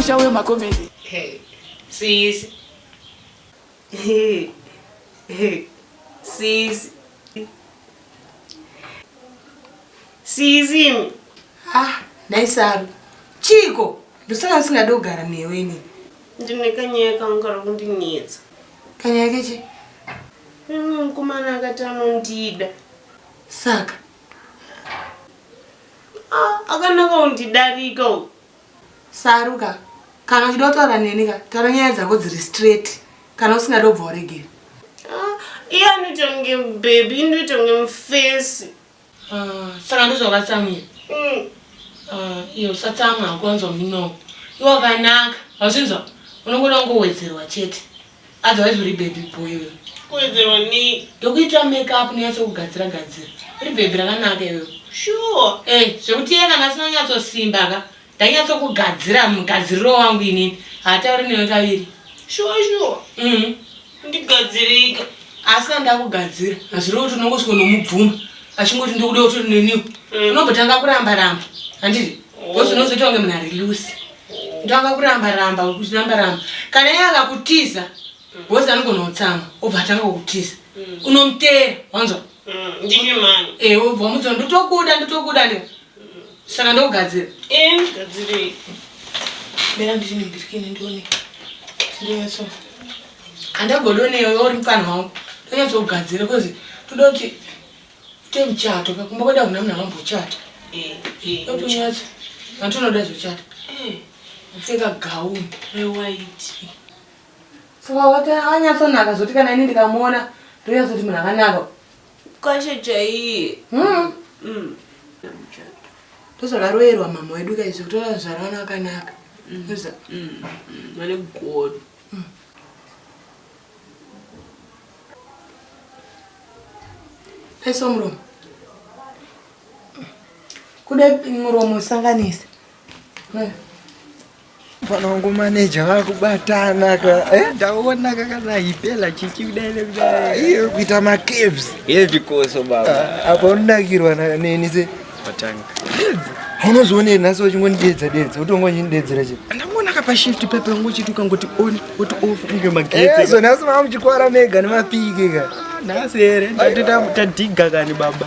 musha wemakomedi sisi sisi sisi ah naisaru chiko ndosaka ndisingadi kugara newe ini ndine kanyaya kanga kari kundinetsa Panyaya kechi? Mumwe mukomana akati anondida. Saka? Ah, akanaka undidarika uyu. Saruka, kana uchida kutaura neni ka, taura nyaya dzako dziri straight. Kana usingada ubva uregere. Ah, iye anoita kunge baby, indoita kunge mufesi. Ah, saka ndozvakatsamwira mm. ah, iyo usatsamwa hakuwanzwa minongo iwakanaka hazvinzwa unongoda kungowedzerwa chete otherwise uri baby boy uyo kuwedzerwa ni ndokuita makeup nonyatso kugadzira gadzira uri baby rakanaka iwewe sure e zvekuti iye kana asina nyatsosimba ka Ndainyatsokugadzira mugadziriro wangu inini. Hatauri newe kaviri. Shuwa shuwa. Mhm. Ndigadzirika. Asi kana ndakugadzira, hazvirevo kuti unongosvika nomubvuma. Achingoti ndikuda kuti neniwo. Mm. Unombotanga kuramba ramba. Handiti? Oh. Bosi unozoita kunge munhu ari loose. Ndanga kuramba ramba kuti ramba ramba. Kana iye akakutiza, bosi anogona kutsamwa, obva atanga kukutiza. Mm. Unomuteera, wanzwa? Mm, ndimi mani. Eh, ubva mudzo ndotokuda ndotokuda ne. Saka ndogadzira. Eh, gadzirei. Mera ndini birikini ndione. Ndione so. Andagodone yoyo uri mfana wangu. Ndonyatso kugadzira kozi toda kuti te muchato kakumba kweda kuna munhu akambochata. Eh, eh. Ndonyatso. Vantu vanoda zvochata. Eh. Mfeka gauni. Rewaiti. Saka wati akanyatsonaka zvoti kana ini ndikamuona ndoyatsoti munhu akanaka. Kwashe chaiye. Hmm. Mm. Ndozvakaroyerwa mama wedu kaizvo kutora zvara vana vakanaka. Mm. Uza. Mm. Mm. Vane godo. Mm. Pesa muromo. Kude muromo usanganise. Mm. Mfana wangu maneja vakubatana ka. Eh? Ndaona kakana hipela chichi kudai nekudai. Ah, iyo kuita ma caves. Heavy koso baba. Ah, apa unodakirwa na neni se. Patanga. Unozoona nhasi wachingonidedza dedza, utongonyi ndedzera che. Ndamona kapa shift pepe ngochituka ngoti on. kuti ufunge magetsi ezo nhasi mava muchikwara mega nemapiki ka nhasi here tadhiga kani baba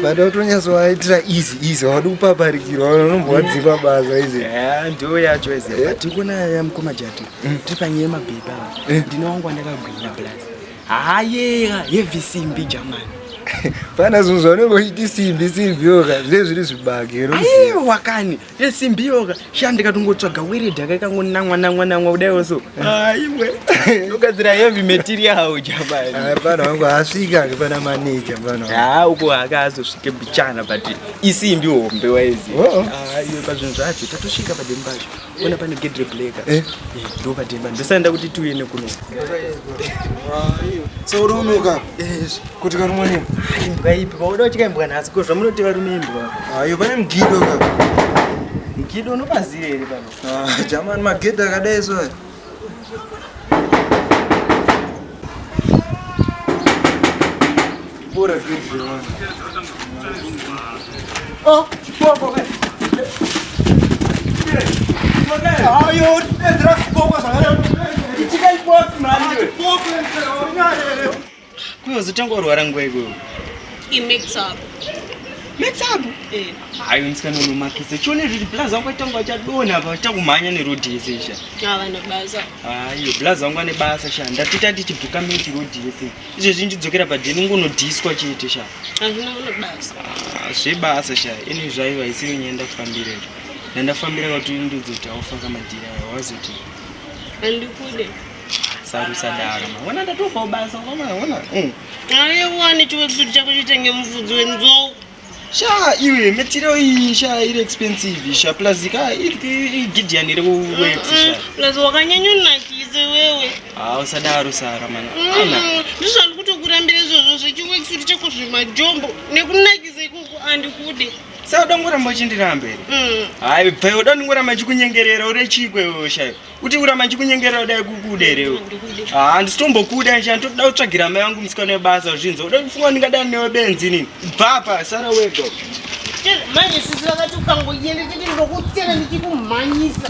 bada kutonyasovaitira easy easy havadi kupaparikirwa vanombovadzipa basa izi ndiyo yacho izi eh? tikuna yamukoma jati hmm. tiri panyaya yemabhebha eh? ndine wangu wandakagwina plus hayeya yevisimbi jamani pana zvinhu zvaunenge uchiti simbi simbi yoka zve zviri zvibage aiwa kani esimbiyoka sha ndikatongotsvaga weredhi akakangonamwa namwa namwa kudaiwo so aiwe ndogadzira heavy material jamani hapana wangu asvika ngepana maneja mfana ha uko akazosvike bichana but isimbi hombe waizi oh, oh. aiwe pazvinhu zvacho tatosvika padembi pacho ona pane gate rebleka eh? eh, ndo pademba ndosanda kuti tiuye nekuno so unonoka Kuti karumwa nini? Imbwa ipi? Pauda uchika imbwa nhasi ko zvamunoti varume imbwa. Ayo pane mugido ka. Mugido unopaziva here pano? Ah, jamani magedha akadai so. Bora zvirwere. Oh, bora bora. Ayo, ndra kuboka sanga. Ichika ibox manje. Box ndra. Kuyo zotanga urwara nguva ikweyo. I mix up. Mix up? Eh. Hayi msikana unomakisa. Chione zviri blaz wangu atanga achadona apa achakumhanya neroad yese sha. Ah vana basa. Hayi blaz wangu ane basa sha. Ndatita tichi buka miti road yese. Izvo zvinji dzokera pa deni ngono disco chete sha. Hazvina ngono basa. Ah zve basa sha. Ini zvaiva isiri nyenda kufambira. Ndandafambira kuti ndudzi kuti aufa kamadira wazoti. Andikude. sarusadara maona ndatopa ubasa kwamaona eh. aiwani chiwekisuti chako chitenge mufudzi wenzou sha iwe metiro iyi sha iri expensive sha plus ka igidian iri kuweksplus wakanyanyonakise wewe ha ah, usadaro sara mana mm, ndizvo andi kutokurambira izvozvo zvechiwekisuti chako zvemajombo nekunakisa ikuku andikude saka udangoramba uchindiramba here mm. hayi bvayo udandingoramba chikunyengerera ure chikwewewo shaiwa kuti urama ndikunyengera kudai kukuda here ah, handisitombokuda nje nditoda kutsvagira mai vangu musikana webasa kuzvinza uda kufunga ndingadani newe benzi inini bva apa sara wega manje sisi vakati ukangoyenda tete ndokutena ndichikumhanyisa